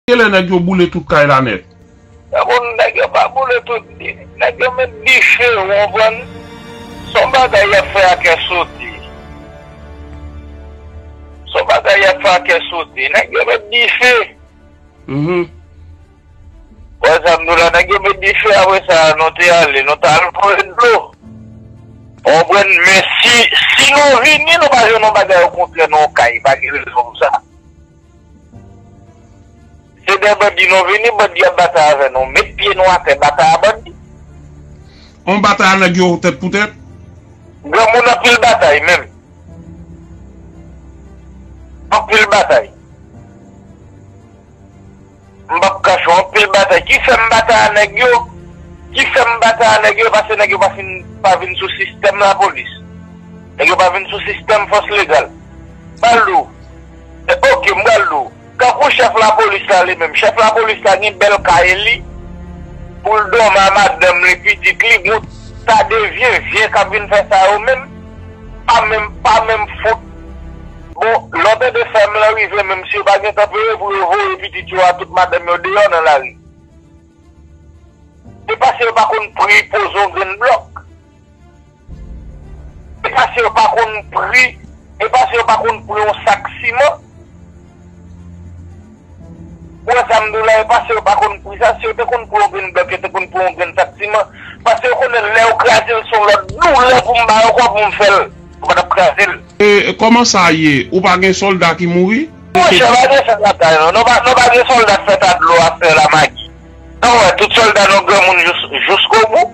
Kilè nèg yo boule tout kay la nèt? Nan bon nèg yo pa boule tout nèg yo met dife ou konprann son bagay yap fè a kè soti son bagay yap fè a kè soti nèg yo met dife wè sa mdou la nèg yo met dife apre sa nou te ale nou tal voye dlo konprann men si nou vini nou pa jwenn yon bagay ou kontre nou kay pa gen rezon pou sa. Se dè bandi nou vini bandi ap batay avè nou met pye nou atè batay a bandi. On batay a nèg yo tèt pou tèt. Granmoun anpil batay menm. Anpil batay. M pap kache w anpil batay ki fè m batay a nèg yo ki fè m batay a nèg yo e pase nèg yo pa fin pa vin sou sistèm lapolis nèg yo pa vin sou sistèm fòs legal m pral di w e ok m pral di w tankou chèf lapolis la li menm chèf lapolis la gen bèl kay li pou l dòmi a madanm li pitit li bon sa de vye vye k ap vin fè sa yo menm pa menm pa menm fout. Bon lè w tande fèm lan rive menm si yo pa gentan peye pou yo voye pitit yo a tout madanm yo deyò nan lari. Se paske yo pa konn pri poze yon grenn blòk. Se paske yo pa konn pri se paske yo pa konn pri yon sak siman. Ou wè sa m di w la yo pase yo pa konn pri sa si yo te konn pri yon grenn blòk yo te konn pri yon grenn sak siman pase yo konnen lè yo kraze l se yon lòt doulè pou m ba yo kòb pou m fè l yo pa t ap kraze l. E kòman sa ye ou pa gen sòlda ki mouri? Monchè pa gen sa lakay nou non pa pa gen sòlda k fè ta dlo a fè la magi sa w wè tout sòlda nou granmoun jous joskobou.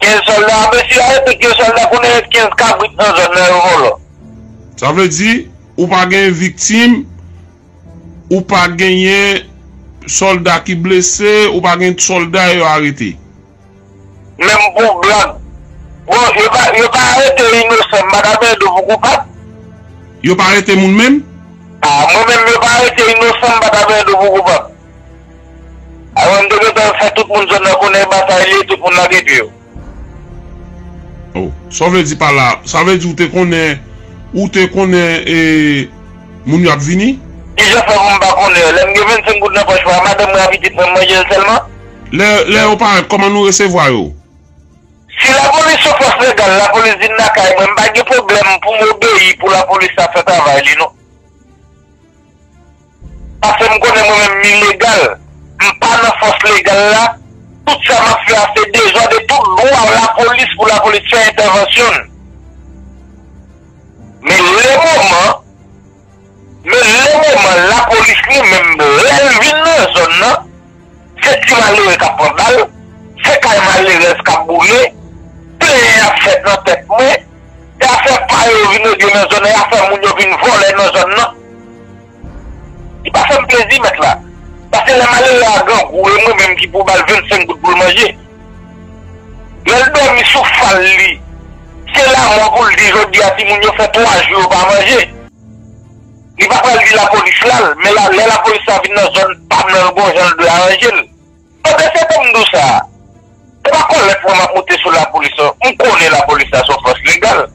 15 solda ape si a epi 2 solda konnen ret 15 kabrit nan zòn nan yo vòlò. Sa vle di ou pa gen viktim, ou pa genyen solda ki blese, ou pa gen solda yo arete. Menm pou blag. Bon yo pa yo pa arete inosan madam Edo pou koupab? Yo pa arete moun menm? Ah mwen menm yo pa arete inosan madam Edo pou koupab? Aaron te gentan fè tout moun zòn nan konnen batay li tout moun lage pye yo. Oh sa w vle di pa la sa vle di ou te konnen ou te konnen e moun yo ap vini? Kijan fè pou m pa konnen yo lè m gen 25 goud nan pòch mwen a madanm mwen a pitit mwen m manje l sèlman? Lè lè yo parèt kòman nou resevwa yo? Si lapolis son fòs legal lapolis vin lakay mwen m pa gen pwoblèm pou m obeyi pou lapolis la fè travay li non. Pasem konnen mwen menm m ilegal, m pa nan fòs legal la, tout sa map fè a se dezòd e tout glwa a lapolis pou lapolis fè entèvansyon n. Men le moman, men le moman lapolis li menm lèl vin nan zòn nan, se ti malere kap pran bal, se kay malerèz kap boule, plenyen ap fèt nan tèt mwen. E afè pa yo vin règle nan zòn nan e afè moun yo vin vòlè nan zòn nan. Li pa fè m plezi mèt la. Pase lè malere a grangou e mwen menm ki pou ba l 25 goud pou l manje. Lè l dòmi sou fal li se lamò pou l di jodi a timoun yo fè 3 jou yo pa manje. Li pa pral di lapolis la l men lè lapolis la vin nan zòn pa m nan l gon jan l dwe aranje l. Pandan se tan m di w sa, se pa kòlèt mwen m ap moute sou lapolis non. M konnen lapolis la se yon fòs legal.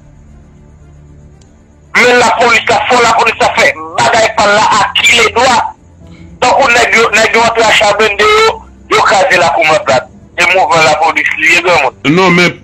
Men lapolis la, fò lapolis la fè bagay pa l la a kiledwa. Tankou nèg yo, nèg yo antre a cha blende yo, yo kraze lakou Mantlat. Se mouvman lapolis li ye granmoun. Non men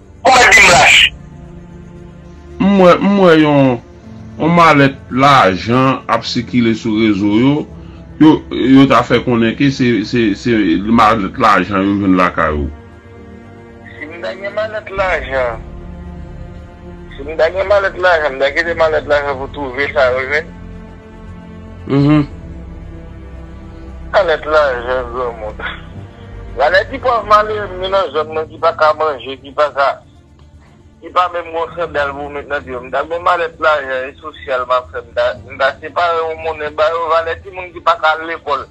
Ou mèt di m lach. M wè m wè yon yon malèt lajan ap sikile sou rezo yo, yo yo ta fè konnen ke se se se malèt lajan yo jwenn lakay ou. Si m ta gen malèt lajan si m ta gen malèt lajan m ta kite malèt lajan pou twouve sa yo jwenn. Uhmm. Anèt lajan granmoun. Gade ti pòv malere m gen nan zòn mwen ki pa ka manje, ki pa ka, ki pa menm gon sandal pou met nan pye yo. M ta gonm anèt lajan e sosyal m ap fè, m ta, m ta separe yon monnen ba yo. Valè timoun ki pa ka al lekòl.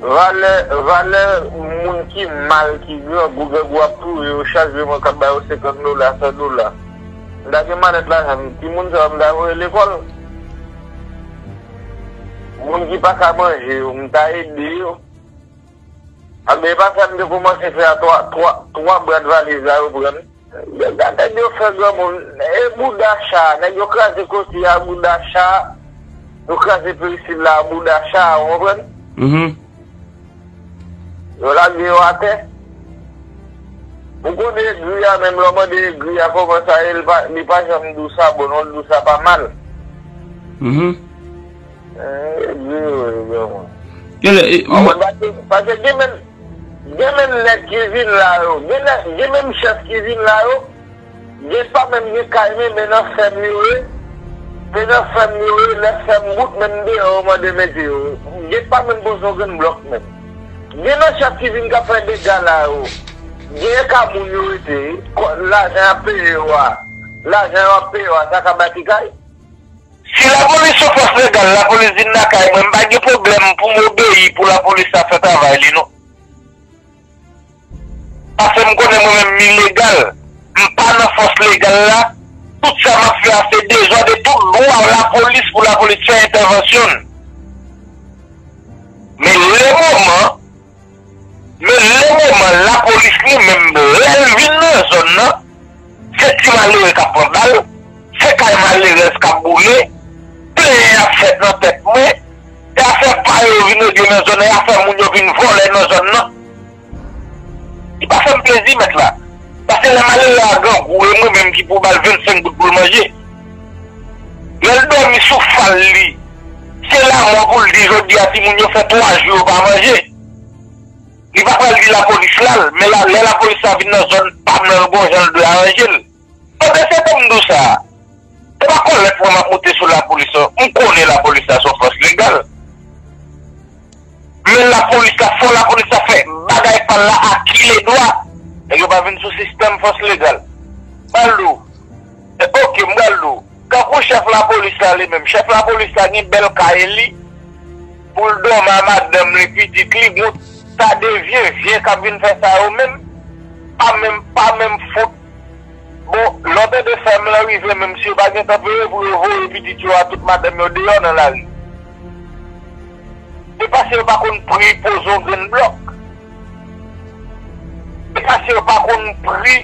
Valè valè moun ki mal ki grangou grangou ap touye yo chak jou mwen kap ba yo 50 dola 100 dola m ta gen malèt lajan m ti moun sa yo m ta voye lekòl moun ki pa ka manje yo m ta ede yo anben epa sa m te kòmanse fè a 3 3 brat valiz la yo pran m. Dega nèg yo fè granmoun e bouda cha nèg yo kraze koti a bouda cha yo kraze peristil la a bouda cha ou konprann yo lage yo atè ou konn egri a menm lè ou mande egri a kòman sa ye li pa janm di w sa bon non li di w sa pa mal egri yo ye granmoun pase gen menm Gen menm nèg ki vin la yo, gen nèg, gen menm chèf ki vin la yo, gen pa menm gen kay men men nan fèm yo ye, se nan fèm yo ye, lè fèm bout menm deyò yo mande mete yo, gen pa menm poze yon grenn blòk menm. Gen nan chèf ki vin k ap fè dega la yo, genyen ka moun yo rete, lajan y ap peye yo a, lajan yo ap peye yo a sa ka bati kay? Si lapolis son fòs legal lapolis vin lakay mwen m pa gen pwoblèm pou m obeyi pou lapolis la fè travay li non paske m konnen mwen menm m ilegal m pa nan fòs legal la tout sa m ap fè a se dezòd e tout dwa lapolis pou lapolis fè entèvansyon l men le moman Men nan moman lapolis li menm lè l vin nan zòn nan, se ti malere k ap pran bal, se kay malerèz k ap boule, plenyen ap fèt nan tèt mwen, e afè pa yo vin regle nan zòn nan, e afè moun yo vin vòlè nan zòn nan. Li pa fè m plezi mèt la, paske lè malere a grangou e mwen menm ki pou ba l 25 goud pou l manje, Lèl dòmi sou fal li se lamò poul di jodi a timoun yo fè 3 jou yo pa manje li pa pral di lapolis lal men lè lapolis la vin nan zòn pam nan l gon jan l dwe aranje l pandan se tan m di w sa se pa kòlèt mwen map moute sou lapolis non m konnen lapolis la son fòs legal. Menm la polis la fò la polis la fè bagay pal la a kile dwa nèg yo pa vin sou sistèm fòs legal bal dou ok m bal dou tankou chèf la polis la li menm chèf la polis la gen bèl kay li poul dòmi a madanm li pitit li bon sa de vye vye kap vin fè sa yo menm pa menm pa menm fout bon lè w tande fèm lan rive menm si yo pa gentan veye pou yo voye pitit yo a tout madanm yo deyò nan lari. E pa se yo pa konn pri poze yon grenn blòk. E pa se yo pa konn pri,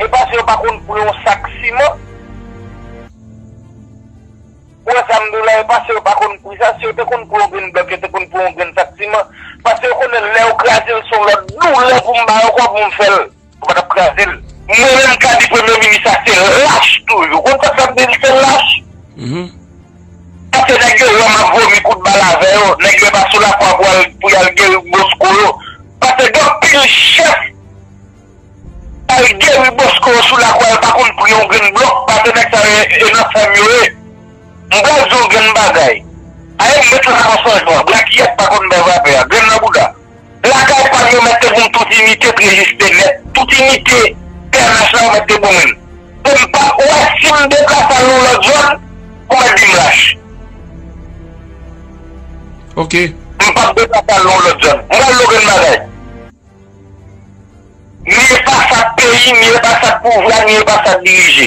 e pa se yo pa konn pri yon sak siman. Ou wè sa m di w la, e pa se yo pa konn pri sa. Si yo te konn pri yon grenn blòk, yo te konn pri yon grenn sak siman. Pase yo konnen lè yo kraze l se yon lòt doulè pou m ba yo kòb pou m fè l. Ou patap krazel. Mwen menm ka di premye minis sa se lach tou wi ou konn sak fè m di li se lach paske nèg yo wè map vomi kout bal avè yo nèg yo epa sou lakwa pou al pou yal geri bosko yo paske gen anpil chèf al geri bosko yo sou lakwa yo pa konn pri yon grenn blòk paske nèg sa yo e nan fèm yo ye m pral di w yon grenn bagay ayè m met lakwa sanjwa blaky yèk pa konn bè vapè a grenn nan bouda. Lakay pam yo mèt te boum tout inite prejis te mèt tout inite pnh la yo mèt te boumem poum pa wè sim deplase al yon lòt zòn ou mèt dim lach ok. M pap deplase al yon lòt zòn. M pral di w grenn bagay. Ni e pa sa k peyi, ni e pa sa k pouvwa, ni e pa sa k dirije.